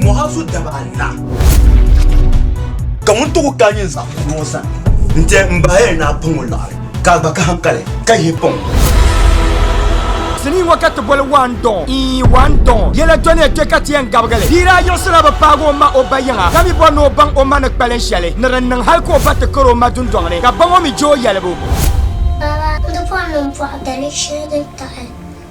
Muhazu daba Allah ka ŋun tuɣu ka nyin zaɣ kuno sani n tɛ n bahaya ni a pɔŋɔ laɣari ka a gba ka hankali ka yi pɔŋɔ sinii ŋɔ ka ti boli waandɔɔ ii waandɔɔ yɛla dɔni ya kpe ka ti yɛn gabigili bia daa yiɣisila bi paagi o ma o ba yiŋa ka mi bɔri ni o baŋ o ma ni kpalin shɛli ni din niŋ hali ka o ba ti kari o ma dundɔŋ ni ka ba ŋɔ mi je o yɛlibu Baba, di pɔri ni m pɔhi dali shɛli din taɣi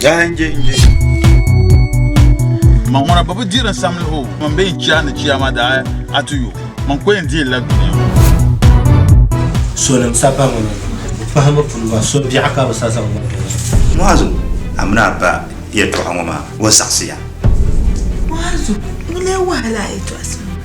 Yaa nje nje. Ma ŋuna ba bi diri samli ho man bɛ yɛn chia ni chia ma daa a tu yo man ko yɛn diri la dunia ho. Sonim sapa ŋuna pahimi pun ba so biɛɣu ka bi sa zaŋ ba bɛ ŋɔ. Muazu, a mini a ba yɛltɔɣa ŋɔ maa o saɣisiya. Muazu, ŋuni n-wahala a yɛltɔɣa so ŋɔ?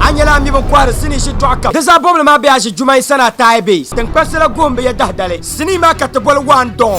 a nyɛla a mi bi kɔhiri sinii shitɔɣu kam di zaa bɔbili maa be a ʒi juma yi sani a taai be tinkpasɛ la goon bi yɛ dahidali sinii maa ka ti boli waan dɔɔn